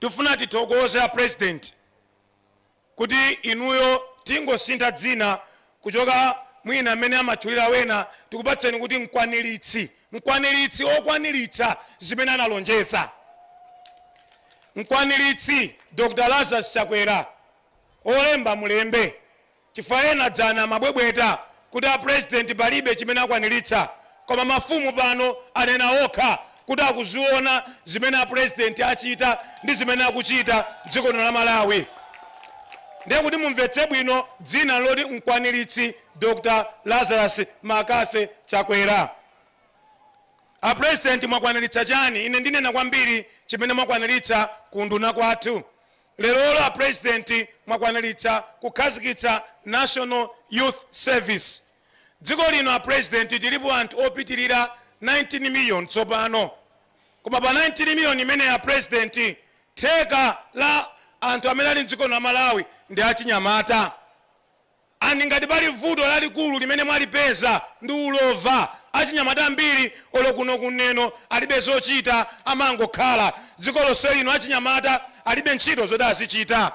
Tifuna tithokoze a president kuti inuyo tingosintha dzina kuchoka mwina mmene amatchulira wena tikupatseni kuti mkwanilitsi, mkwanilitsi okwanilitsa zimene analonjeza. Mkwanilitsi Dr. Lazarus Chakwera olemba mulembe. Chifukwa ena dzana amabwebweta kuti a president palibe chimene akwanilitsa koma mafumu pano anena okha kuti akuziona zimene a president achita ndi zimene akuchita mdziko lino la Malawi. Ndiye kuti mumvetse bwino dzina loti mkwanilitsi Dr Lazarus Mccarthy Chakwera. A president mwakwanilitsa chani? Ine ndinena kwambiri chimene mwakwanilitsa ku unduna kwathu. Lerolo a President mwakwanilitsa kukhazikitsa National Youth Service. Dziko lino a President tilipo anthu opitilira 19 million tsopano. Koma pa 19 million imeneyi a President theka la anthu amene ali mdziko lino la Malawi ndi achinyamata. And ngati pali vuto lalikulu limene mwalipeza ndi ulova. Achinyamata ambiri olo kuno ku Neno alibe zochita amangokhala. Dziko lonselino achinyamata alibe ntchito zoti azichita.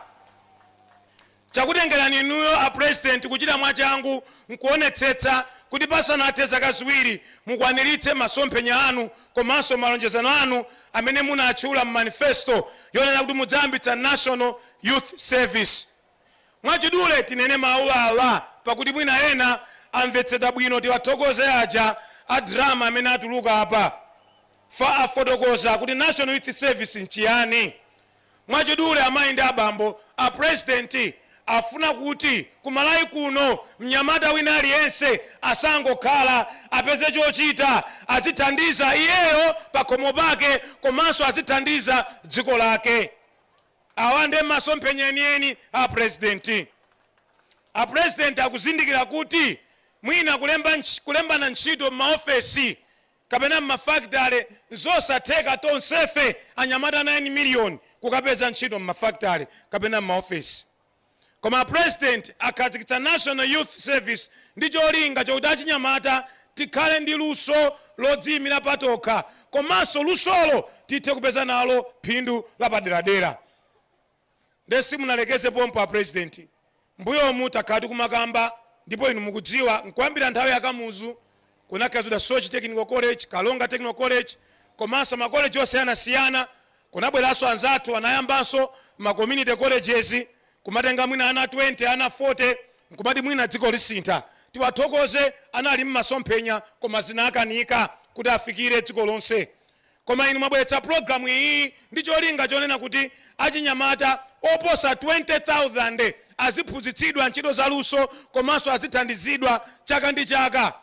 Chakutengelani inuyo a President kuchita mwachangu nkuonetsetsa kuti pasanathe zaka ziwiri mukwanilitse masomphenya anu komanso malonjezano anu amene munatchula mu manifesto yonena kuti mudzayambitsa National Youth Service. Mwachidule tinene mawu awa pakuti mwina ena amvetsedwa bwino tiwathokoze aja a drama amene atuluka apa fa afotokoza kuti National Youth Service nchiyani. Mwachidule amayi ndi abambo a president afuna kuti ku Malawi kuno mnyamata wina aliyense asangokhala apeze chochita adzithandiza iyeyo pakhomo pake komanso adzithandiza dziko lake. Awa nde masomphenya enieni a president. A president akuzindikira kuti mwina kule kulembana ntchito mma ofesi kapena mma factory nzosatheka tonsefe anyamata 9 million kukapeza ntchito mma factory kapena mma ofesi. Koma a President akhazikitsa National Youth Service ndi cholinga chokuti achinyamata tikhale ndi luso lodziyimira patokha komanso lusolo tithe kupeza nalo phindu lapaderadera. Nde simunalekeze pompo a President. Mmbuyomu takhala tikumakamba ndipo inu mukudziwa nkuyambira nthawi ya Kamuzu, kunakhazidwa Soche Technical College, Karonga Technical College komanso ma college osiyanasiyana. Kunabweranso anzathu anayambanso ma community colleges kumatenga mwina ana 20, ana 40 nkumati mwina dziko lisintha. Tiwathokoze anali masomphenya koma zinakanika kuti afikire dziko lonse. Koma inu mwabweretsa program iyi ndi cholinga chonena kuti achinyamata oposa 20,000 aziphunzitsidwa ntchito za luso komanso azithandizidwa chaka ndi chaka.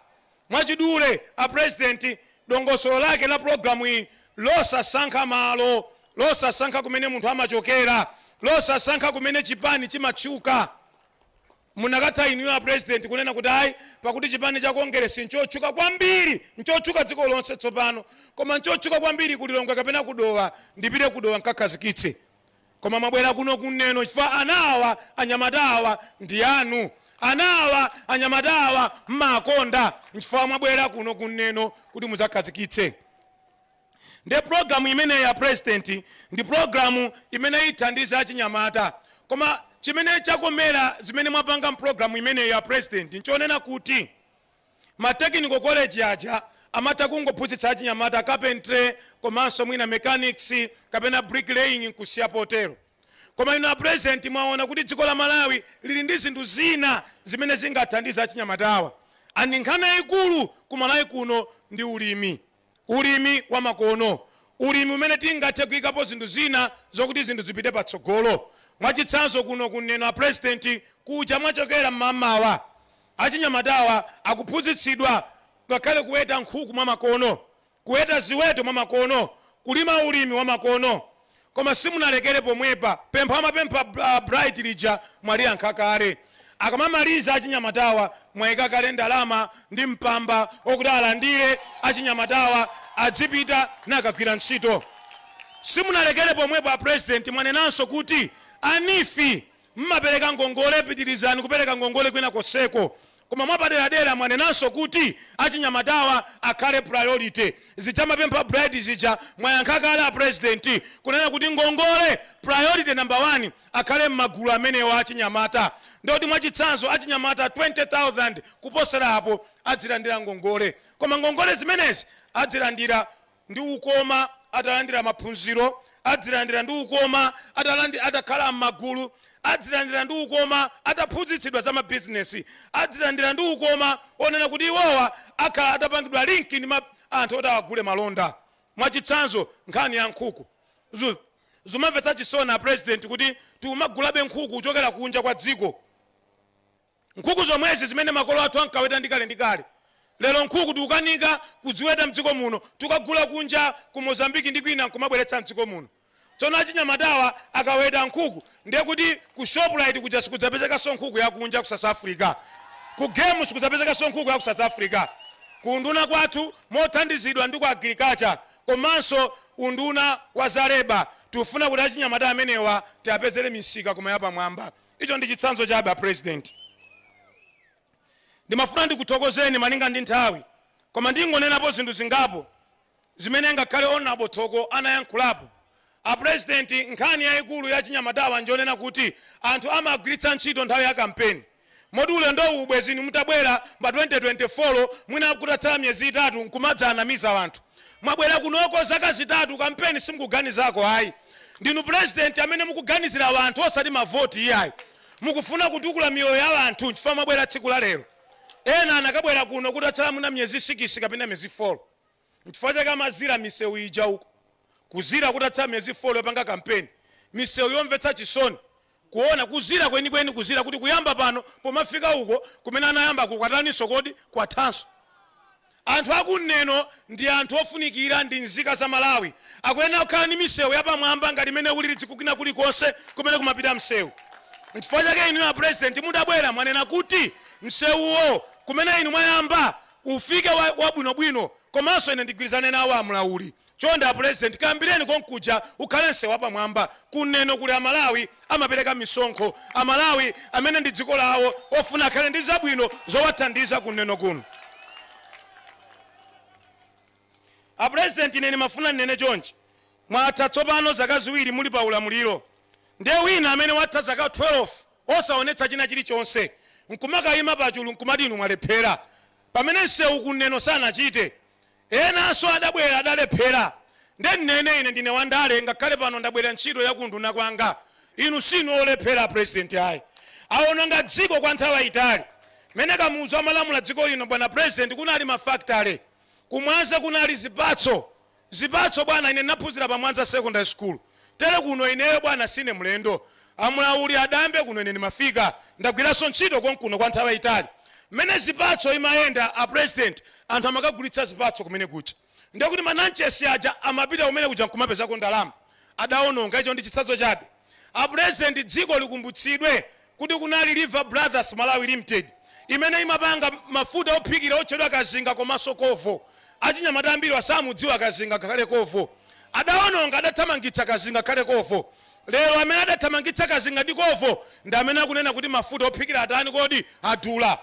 Mwachidule a president dongosolo lake la program iyi losasankha malo, losasankha kumene munthu amachokera, losasankha kumene chipani chimatchuka. Munakatha inuyo a president kunena kuti ayi pakuti chipani cha Kongeresi nchotchuka kwambiri, nchotchuka dziko lonse tsopano, koma nchotchuka kwambiri ku Lilongwe kapena ku Dowa, ndipite ku Dowa nkakhazikitse. Koma mwabwera kuno ku Neno chifukwa ana awa, anyamata awa ndi anu. Ana awa, anyamata awa mmaakonda nchifukwa mwabwera kuno ku Neno kuti mudzakhazikitse. Nde program imeneyi a president ndi program imene ithandize achinyamata koma chimene chakoma mwa zimene mwapanga mprogram imeneyi a president nchonena kuti ma technical college aja amatha kungophunzitsa achinyamata carpentry komanso mwina mechanics kapena brick laying nkusiya potero koma inu a president mwaona kuti dziko la Malawi lili ndi zinthu zina zimene zingathandize achinyamatawa and nkhani yaikulu ku Malawi kuno ndi ulimi. Ulimi wa makono, Ulimi umene tingathe kuikapo zinthu zina zokuti zinthu zipite patsogolo. Mwachitsanzo kuno ku Neno a President kuja mwachokera mmamawa achinyamatawa akuphunzitsidwa ngakhale kuweta nkhuku mwa makono, kuweta ziweto mwa makono, kulima ulimi wa makono. Koma simunalekere pomwepa, pempho amapempha a Bright lija mwaliyankha kale. Akamamaliza achinyamatawa mwaika kale ndalama ndi mpamba okuti alandire achinyamatawa adzipita nakagwira ntchito. Simunalekere pomwepo a President mwanenanso kuti a NEEF mmapereka ngongole pitirizani kupereka ngongole kwina konseko Koma mwapaderadera mwanenanso kuti achinyamatawa akhale priority. Zija amapempha a Bright zija mwayankha kale a president kunena kuti ngongole priority number one akhale mmagulu amenewa achinyamata. Ndiye kuti mwachitsanzo achinyamata 20,000 kuposera apo adzilandira ngongole. Koma ngongole zimenezi adzilandira. ndi ukoma atalandira maphunziro, adzilandira ndi ukoma atalandi atakhala m'magulu, adzilandira ndi ukoma ataphunzitsidwa za mabizinesi, adzilandira ndi ukoma onena kuti iwowa akhala atapangidwa linki ndi ma anthu oti awagule malonda. Mwachitsanzo, nkhani ya nkhuku. Zu zumamvetsa chisoni a Purezidenti kuti tikumagulabe nkhuku kuchokera kunja kwa dziko. Nkhuku zomwezi zimene makolo athu ankaweta ndi kale ndi kale, lero nkhuku tikukanika kudziweta mdziko muno, tikagula kunja ku Mozambique ndi kwina nkumabweretsa mdziko muno. Tsono achinyamatawa akaweta nkhuku ndiye kuti ku Shoprite kuja sikudzapezekanso nkhuku ya kunja, ku South Africa, ku Game sikudzapezekanso nkhuku ya ku South Africa. Ku unduna kwathu mothandizidwa ndi ku Agriculture komanso unduna wa za Labour tikufuna kuti achinyamata amenewa tiapezere misika koma yapamwamba. Icho ndi chitsanzo chabe, a Purezidenti. Ndimafuna ndikuthokozeni malinga ndi nthawi, koma ndingonenapo zinthu zingapo zimene ngakhale Hon. Thoko anayankhulapo. A Purezidenti, nkhani yaikulu ya achinyamatawa njonena kuti anthu amagwiritsa ntchito nthawi ya kampeni moti ulendowu ubwezi inu mutabwera pa 2024 mwina kutatsala miyezi itatu nkumadzaanamiza anthu. Mwabwera kunoko zaka zitatu kampeni simukuganizako ayi. Ndinu president amene mukuganizira wanthu osati mavoti iyayi. Mukufuna kutukula miyoyo ya wanthu nchifukwa mwabwera tsiku la lero. Ena anakabwera kuno kutatsala mwina myezi sikisi kapena myezi folo. Nchifukwa chake amazira misewu ija uko. Kuzira kutatsala myezi folo yopanga kampeni. Misewu yomvetsa chisoni. Kuona, kuzira kwenikweni, kuzira kuti kuyamba pano pomafika uko kumene anayamba kukwataninso kodi? Kwathanso. Anthu aku Neno ndi anthu ofunikira ndi nzika za Malawi. Akuyenera kukhala ndi misewu yapamwamba ngati imene ili dziko kwina kulikonse kumene kumapita msewu. Nchifukwa chake inuyo a President mutabwera mwanena kuti msewuwo kumene inu mwayamba ufike wabwinobwino komanso ine ndigwirizane nawo a Mlauli. Chonde a President kayambireni konkuja ukhale nsewu wapamwamba ku Neno kuli a Malawi amapereka misonkho, a Malawi amene ndi dziko lawo ofuna akhale ndi zabwino zowathandiza ku Neno kuno. A President ine ndimafuna ndinene chonchi, mwatha tsopano zaka ziwiri muli pa ulamuliro nde wina amene watha zaka 12 osaonetsa china chilichonse nkumakayima pachulu nkumati inu mwalephera pamene nsewu ku Neno sanachite Enanso adabwera adalephera. Nde nnene ine ndine wandale ngakhale pano ndabwerera ntchito ya ku unduna kwanga. Inu siinu olephera a President ayi. Awononga dziko kwa nthawi yitali. Mene Kamuzu amalamula dziko lino bwana President kunali ma factory. Ku Mwanza kunali zipatso. Zipatso bwana ine ndinaphunzira pa Mwanza Secondary School. Tere kuno, ineyo, bwana, sine mlendo. A Mlauli adayambe kuno, ine ndimafika. Ndagwiranso ntchito konkuno kwa nthawi yayitali. Mmene zipatso imayenda, a President, anthu amakagulitsa zipatso kumene kuja. Ndiye kuti ma Nanchesi aja amapita kumene kuja nkumapezako ndalama. Adawononga. Icho ndi chitsanzo chabe. A President, dziko likumbutsidwe kuti kunali Lever Brothers Malawi Limited imene imapanga mafuta ophikira otchedwa Kazinga komanso Covo. Achinyamata ambiriwa samudziwa Kazinga ngakhale Covo. Adaononga, adathamangitsa Kazinga ngakhale Covo. Lero amene adathamangitsa Kazinga ndi Covo ndi amene akunena kuti mafuta ophikira atani kodi? Adula.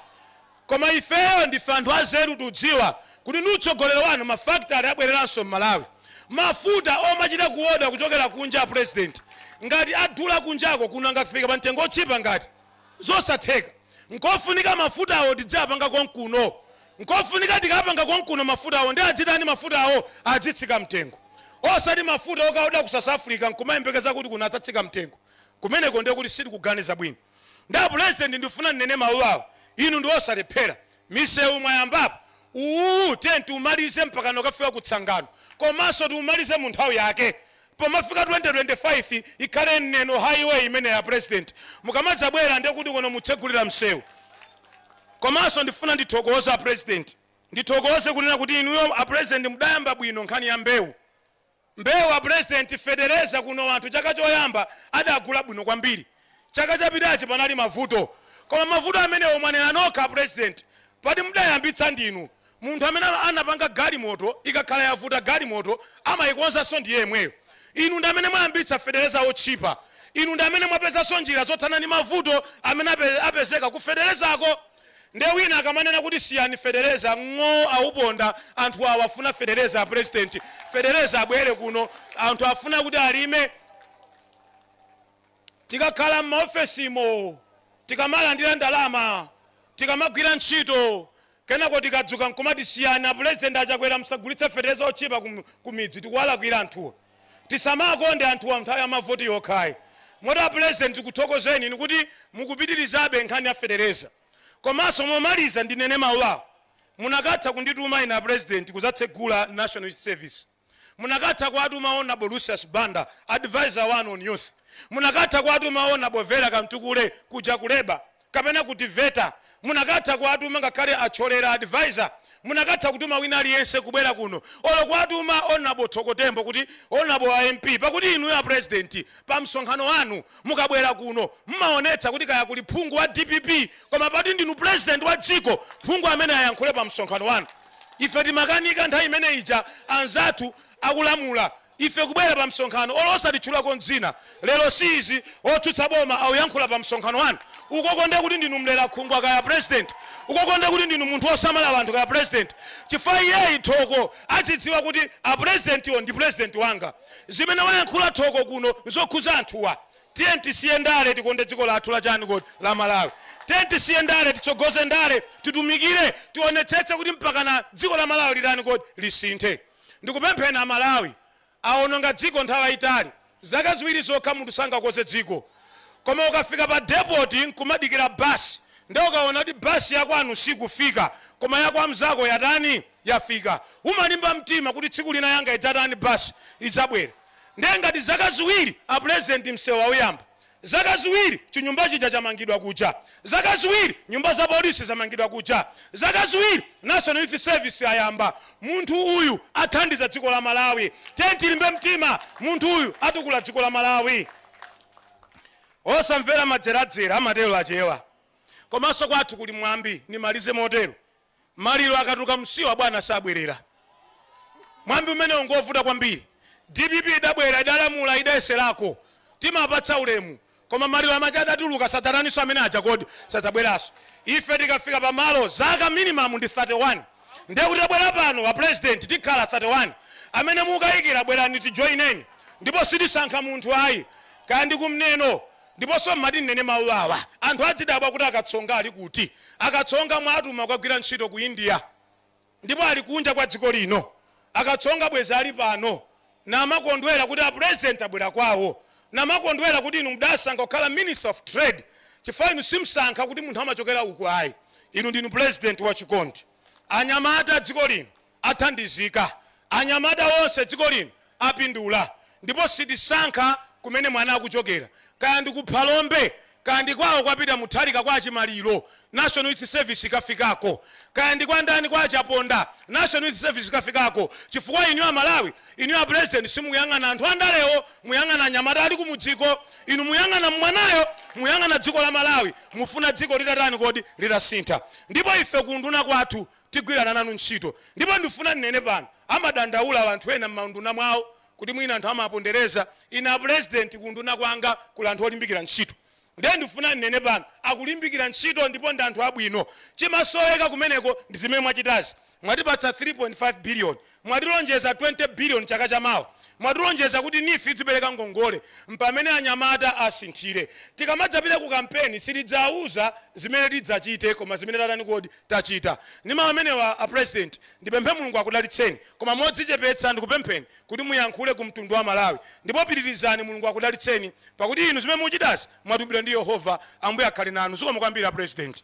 Koma ifeyo ndife anthu azeru tudziwa kuti ndi utsogoleri wanu ma factory abwereranso mmalawi. Mafuta omachita kuoda kuchokera kunja apresident ngati adula kunjako kuno angafike pamtengo otchipa ngati? Zosatheka. Nkofunika mafutawo tidziapanga konkuno. Nkofunika tikapanga konkuno mafutawo nde adzitani mafutawo? Adzitsika mtengo. Osati mafuta okaoda ku south africa nkumayembekeza kuti kuno adzatsika mtengo. Kumeneko ndekuti sitikuganiza bwino. Nde a pulezident ndifuna ndinene mawu awa inu ndi osalephera. Misewu mwayambapo uwuwu tiyeni tiwumalize mpakana kukafika ku Tsangano komanso tiwumalize mu nthawi yake pomafika 2025 ikhale Neno high way imeneyo a pulezident mukamadzabwera nde kuti kuno mutsegulira msewu. Komanso ndifuna ndithokoze a pulezident ndithokoze kunena kuti inuyo a pulezident mudayamba bwino nkhani ya mbewu. Mbewu a president fetereza kuno anthu chaka choyamba adagula bwino kwambiri chaka chapitachi panali mavuto koma mavuto amenewo mwanena nokha a president poti mdayambitsa ndinu munthu amene anapanga galimoto ikakhala yavuta galimoto amayikonzanso ndiyemweyo inu ndi amene mwayambitsa fetereza otchipa inu ndi amene mwapezanso njira zothana ndi mavuto amene apezeka ku feterezako Nde wina akamanena kuti siyani fetereza ng'oo awuponda anthu awa afuna fetereza apresident fetereza abwere kuno anthu afuna kuti alime tikakhala mmaofesimo tikamalandira ndalama tikamagwira ntchito kenako tikadzuka nkumati siyani apresident achakwera msagulitse fetereza otchipa kumidzi tikuwalakwira anthuwa. Tisamakonde anthuwa mnthawi ya mavoti yokhayi. Moti a Pulezidenti tikuthokozeni inu kuti mukupitirizabe nkhani ya fetereza. Komanso momaliza ndinene mawu awa, munakatha kundituma ine a Pulezidenti kuzatsegula National Youth Service. Munakatha kuwatuma Hon. Lucius Banda, advisor wanu on youth. Munakatha kuwatuma Hon. Vera Kamtukule kuja ku Labour. kapena ku TEVETA munakatha kuwatuma ngakhale a Thyolera advisor munakatha kutuma wina aliyense kubwera kuno olo kuwatuma Hon Thoko Tembo kuti Hon a MP pakuti inuyo a president pa msonkhano wanu mukabwera kuno mmaonetsa kuti kaya kuli phungu wa dpp koma poti ndinu president wa dziko phungu amene ayankhule pa msonkhano wanu ife timakanika nthawi imene ija anzathu akulamula Ife kubwera pa msonkhano olo osatitchulako dzina lero si izi otsutsa boma akuyankhula pa msonkhano wanu ukoko nde kuti ndinu mlerakhungwa kaya president ukoko nde kuti ndinu munthu osamala anthu kaya president chifukwa iyeyi thoko adzidziwa kuti a presidentiwo ndi president wanga zimene wayankhula thoko kuno nzokhuza anthuwa tiyeni tisiye ndale tikonde dziko lathu la chani kodi la malawi tiyeni tisiye ndale titsogoze ndale yotumikira tionetsetse kuti mpakana dziko la malawi litani kodi lisinthe Ndikupempheni a Malawi awononga dziko nthawi yayitali zaka ziwiri zokha munthu sangakonze dziko koma ukafika pa depot nkumadikira basi nde ukawona kuti basi yakwanu sikufika koma ya kwa mzako yatani yafika umalimba mtima kuti tsiku lina yanga idzatani basi idzabwera nde ngati zaka ziwiri a pulezidenti msewu awuyamba Zaka ziwiri chinyumba chija chamangidwa kuja. Zaka ziwiri nyumba za polisi zamangidwa kuja. Zaka ziwiri National Youth Service ayamba. Munthu uyu athandiza dziko la Malawi. Tiyeni tilimbe mtima. Munthu uyu atukula dziko la Malawi. Osamvera madzeradzera, amatero Achewa. Komanso kwathu kuli mwambi, ndimalize motero. maliro akatuluka msiwa bwana sabwerera mwambi umenewo ngovuta kwambiri dpp idabwera idalamula idayeserako timapatsa ulemu koma maliro amachita adatuluka sadzataniso amene aja kodi sadzabweraso ife tikafika pamalo zaka minimum ndi 31 ndiye kuti tabwera pano a president tikhala 31 amene mukayikira bwerani tijoineni ndipo sitisankha munthu ayi kaya ndi kumneno Ndiponso m'mati nnene mawu awa, anthu adzidabwa kuti akatsonga ali kuti. Akatsonga mwawatuma kukagwira ntchito ku India ndipo ali kunja kwa dziko lino. Akatsonga bwezi ali pano namakondwera kuti a President abwera kwawo. Namakondwera kuti inu mdasankha kukhala Minister of Trade chifukwa inu simsankha kuti munthu amachokera uku ayi. Inu ndinu President wachikondi. Anyamata a dziko lino. athandizika, anyamata onse dziko lino apindula ndipo sitisankha kumene mwana akuchokera kaya ndi ku Phalombe kaya ndi kwawo kwa Peter Mutharika kwa Chimaliro National Youth Service ikafikako kaya ndi kwa ndani kwa a Chaponda National Youth Service ikafikako chifukwa inu a Malawi inu a President simuyang'ana anthu andalewo muyang'ana anyamata ali kumudziko inu muyang'ana mwanayo muyang'ana dziko la Malawi mufuna dziko litatani kodi litasintha ndipo ife ku unduna kwathu Tigwirana nanu ntchito. Ndipo ndifuna nnene pano, amadandaula anthu ena mmaunduna mwawo kuti mwina anthu amapondereza. Ine a President ku unduna kwanga kuli anthu olimbikira ntchito. Ndiye ndifuna nnene pano, akulimbikira ntchito ndipo ndi anthu abwino. Chimasoweka kumeneko ndi zimene mwachitazi. Mwatipatsa 3.5 billion Mwatilonjeza 20 billion chaka cha mawa. Mwatilonjeza kuti neef idzipereka ngongole. M'pamene anyamata asinthire. Tikamadzapita ku kampeni sitidzawuza zimene tidzachite koma zimene tatani kodi? Tachita. Ndi mau amenewa a president ndipemphe Mulungu akudalitseni koma modzichepetsa ndikupempheni kuti muyankhule ku mtundu wa Malawi ndipo pitirizani Mulungu akudalitseni pakuti inu zimene muchitazi mwatumidwa ndi Yehova. Ambuye akhale nanu. Zikomo kwambiri a president.